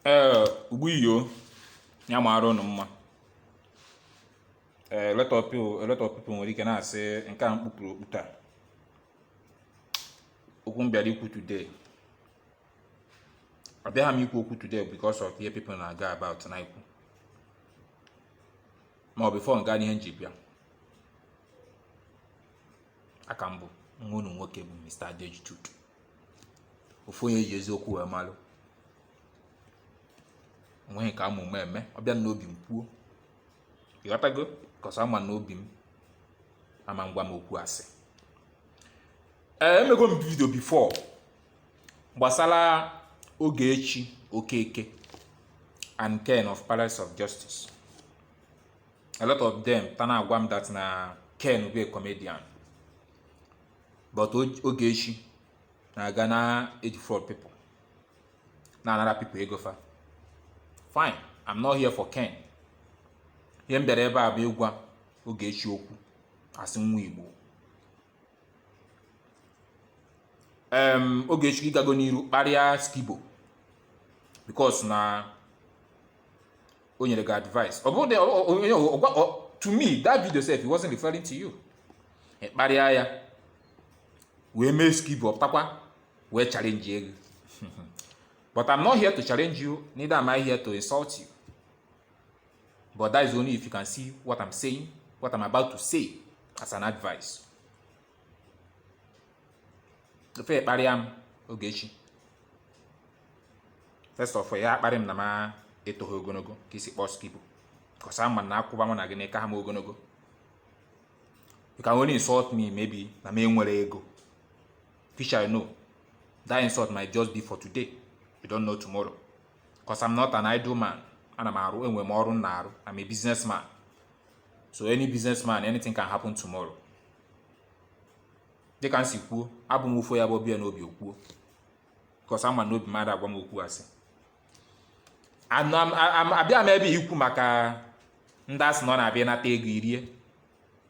ee ugbu iyo ya mara ụnụ mma ee lot of people a lot of people nwere ike na-asị nke a m kpupụrụ okpu taa okwu m bịara ikwu today abịaghị m ikwu okwu today because of ihe people na-aga about na-ekwu ma before m gaa n'ihe m ji bịa aka m bụ nwa unu nwoke bụ Mr. Adeoji Tutu ofu onye e ji eziokwu wee malụ onweghị ka ama ume eme ọ bịa n'obi m kwuo ịghọtago cause ama m n'obi m ama agwa m okwu asị ee emego m video before gbasara Ogechi Okeke and ken of palace of justice a lot of them ta na-agwa m that na ken bụ a comedian but Ogechi na-aga na-edefraud people na-anara people ego fa fine i'm not here for ken ihe m bịara ebe a bụ ịgwa Ogechi okwu as nwa igbo em Ogechi ị gago n'iru kparịa Skibo because na o nyere gị advice ọ bụrụ na ọ- ọ- onye ọ- ọgwa- ọ- to me that video sef he wasn't referring to you ị kparịa ya wee mee Skibo pụtakwa wee challenge gị but i'm not here to challenge you neither am i here to insult you but that is only if you can see what i'm saying what i'm about to say as an advice if ị kparịa m Ogechi first of all ị ya akparị m na m etoghị ogologo ka i si kpọọ Skibo cause ama m na akwụba mụ na gị na ị kaha m ogologo you can only insult me maybe na m enwere ego which I know that insult might just be for today you don't know tomorrow cause I'm not an idle man ana m arụ enwe m ọrụ m na-arụ I'm a businessman so any businessman anything can happen tomorrow dịka m si kwuo abụ m ofu onye bụ ọ bịa n'obi o kwuo because ama m n'obi m ada agwa m okwu asị Ana m- a- a- abịaha m ebe a ikwu maka ndị asị na ọ na-abịa nata ego irie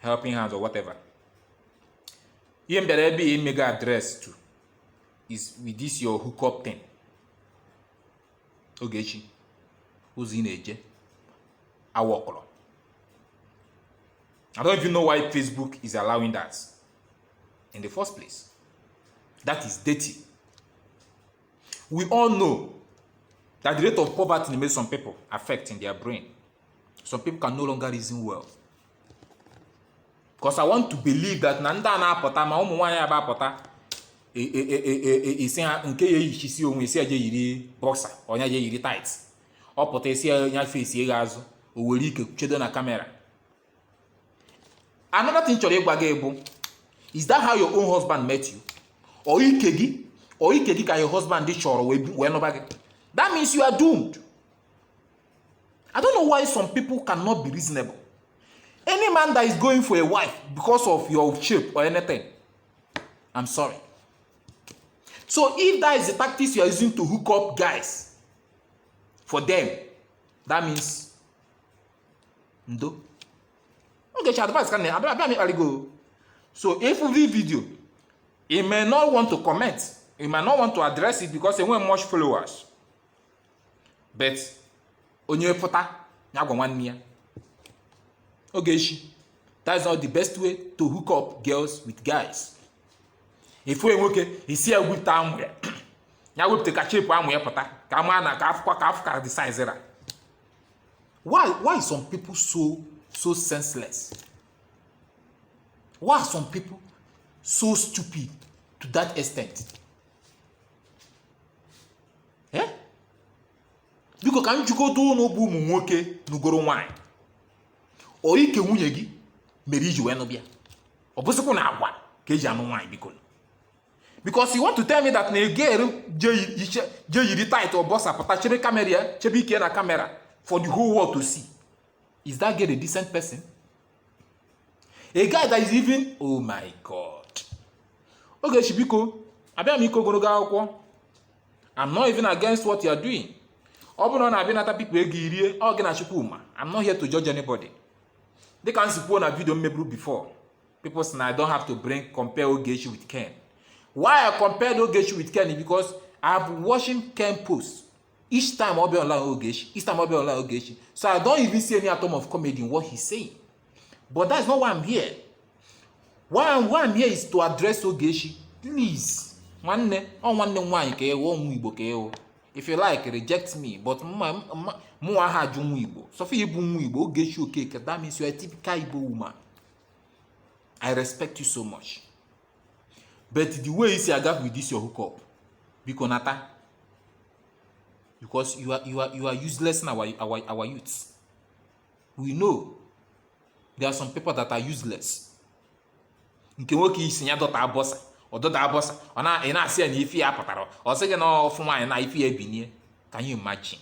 helping hands or whatever ihe m bịara ebe a imego address to is with this your hookup thing Ogechi ụzọ ị na-eje awa ọkọrọ I don't even know why Facebook is allowing that in the first place. That is dirty. We all know that the rate of poverty makes some people affect in their brain. Some people can no longer reason well. Because I want to believe that na ndị a na-apụta ma ụmụ nwaanyị aba apụta e, e, e, isi ha nke ya eyichisi onwe isi aja yiri boxer or ya yiri tight ọ pụta ị sị ya nya fesie ghaa azụ o were ike chedo na camera another thing chọrọ ịgwa gị bụ is that how your own husband met you or ike gị or ike gị ka your husband chọrọ wee bi- wee nụba gị that means you are doomed i don't know why some people cannot be reasonable any man that is going for a wife because of your shape or anything i'm sorry so if that is the tactics you are using to hook up guys for them that means ndo Ogechi advice ka na abịa abịa m ịkpali gị o. so ị fụ video you may not want to comment you may not want to address it because enweghị much followers but onye pụta ya gwa nwanne ya Ogechi that's not the best way to hook up girls with guys ị fụ nwoke ị sị ya gwute amụ ya ya wepụta ka chepụ amụ ya pụta ka a maa na ka a fụkwa ka a fụ ka the size ra why why some people so so senseless why some people so stupid to that extent eh? biko ka m jụgodu unu bụ ụmụ nwoke nụgoro nwaanyị ọ ike nwunye gị mere i ji wee nụba ya ọ bụsịkwanụ agwa ka e ji anụ nwaanyị biko because you want to tell me that na a girl je yiri tight or boxer pụta chebe camera ya chebe ike na camera for the whole world to see is that girl a decent person a guy that is even oh my god Ogechi biko abịa m ịkọ ogologo akụkọ i'm not even against what you are doing ọ bụrụ na ọ na-abịa nata people ego i rie ọ gị na Chukwu ma i'm not here to judge anybody dịka m si kwuo na video m meburu before people say na i don't have to bring compare ogechi with ken why i compared ogechi with ken because i have watching ken post each time ọ bịa online ogechi each time ọ bịa online ogechi so i don't even see any atom of comedy in what he's saying but that's not why i'm here why i'm, why I'm here is to address ogechi please nwanne ọ nwanne m nwaanyị ka ị wụ ọ nwa igbo ka ị wụ if you like reject me but mụ aha ajụ nwa igbo so far ị bụ nwa igbo ogechi okeke that means you are a typical igbo woman i respect you so much but the way i si aga with this your hookup biko nata because you are you are you are uselessing our our our youths we know there are some people that are useless nke nwoke ị sị ya dọta boxer ọ dọta boxer ọ na ị na-asị ya na ife ya pụtara ọ sị gị na ọ fụ nwaanyị na ife ya ebinie can you imagine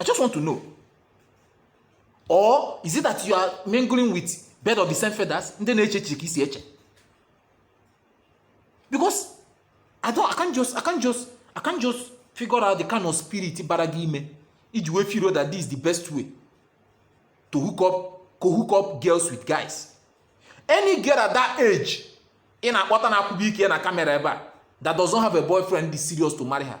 I just want to know. Or is it that you are mingling with bird of the same feathers? Ndị na-eche echiche ka isi eche. Because I don't, I can't just, I can't just, I can't just figure out the kind of spirit bara gị ime iji wee feel that this is the best way to hook up, to hook up girls with guys. Any girl at that age ị na-akpọta na akwụba ike na kamera ebe a that doesn't have a boyfriend is serious to marry her.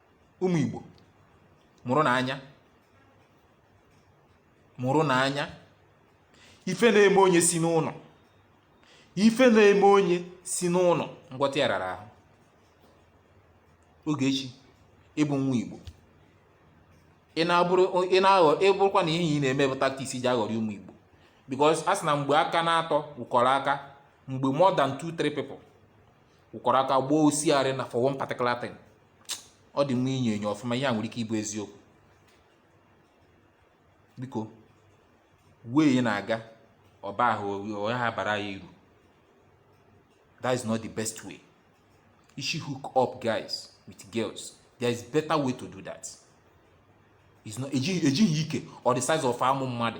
ụmụ Igbo mụrụnụ anya mụrụnụ anya ife na-eme onye si n'ụnọ ife na-eme onye si n'ụnọ ngwọta ya rara ahụ Ogechi ị bụ nwa Igbo ị na-abụrụ ị na-aghọ ịbụrụkwa na ihe ị na-eme bụ tactics i ji aghọrị ụmụ Igbo because a sị na mgbe aka na-atọ wụkọrọ aka mgbe more than two three people wụkọrọ aka gbaa ọsịarị na for one particular thing ọ dị mma inyo enyo ọfụma ihe a nwere ike ịbụ eziokwu biko wee na-aga ọba ahụ onye ha bara ya iru that is not the best way you should hook up guys with girls there is better way to do that ejighị ike or the size of amụ mmadụ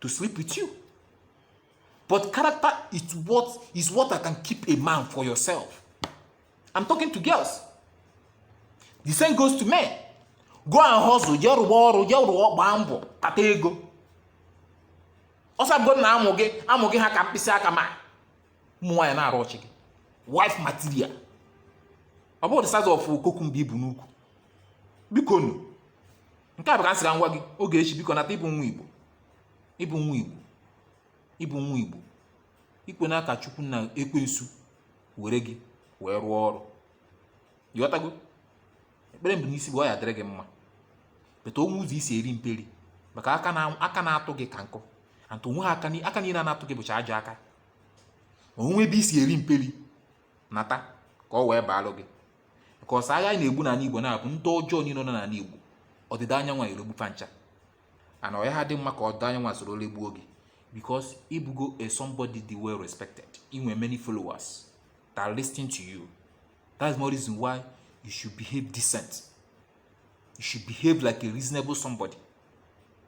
to sleep with you. But character is what can keep a man for yourself. I'm talking to girls. The same goes to men. Go and hustle, jee rụwa ọrụ, jee rụwa gbaa mbọ, kpata ego. Ọsọ abụgo na amụ gị, amụ gị ha ka mkpịsị aka ma ụmụ nwaanyị na-arụ ọchị gị. Wife material. Ọ bụrọ the size of cucumber i bu n'ukwu. Bikonu, nke a bụ ka m sị ka m gwa gị Ogechi biko nata ị bụ nwa igbo ị bụ nwa igbo ị bụ nwa igbo ekwena ka chukwu na ekwensu were gị wee rụọ ọrụ ị ghọtago ekpere m bu n'isi bụ ọ ya-adịrị gị mma but o nwe ụzọ i si eri mperi maka aka na-atụ gị ka nkụ and o nweha aka niine na-atụ gị bụcha ajọ aka o nwe ebe i si eri mperi nata ka ọ wee baalụ gị ka ọsọ agha na-egbu n'anị Igbo na-abụ ndị ọjọọ niine nọ n'anị Igbo ọdịda anyanwụ eregbu fa ncha and ọ yaha adị mma ka ọdịda anyanwụ esoro regbuo gị because ị bụgo a somebody dị well respected i nwe many followers that listen to you that's more reason why you should behave decent you should behave like a reasonable somebody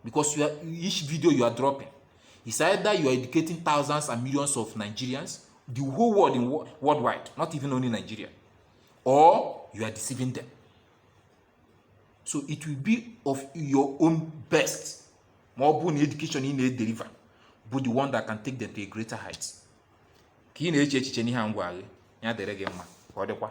because you are, each video you are dropping is either you are educating thousands and millions of Nigerians, the whole world in worldwide, not even only Nigeria, or you are deceiving them. So it will be of your own best. More born education in a deliver, but the one that can take them to a greater height. Ka ị na-eche echiche n'ihe ngwa gị, ya dịrị gị mma ka ọ dịkwa.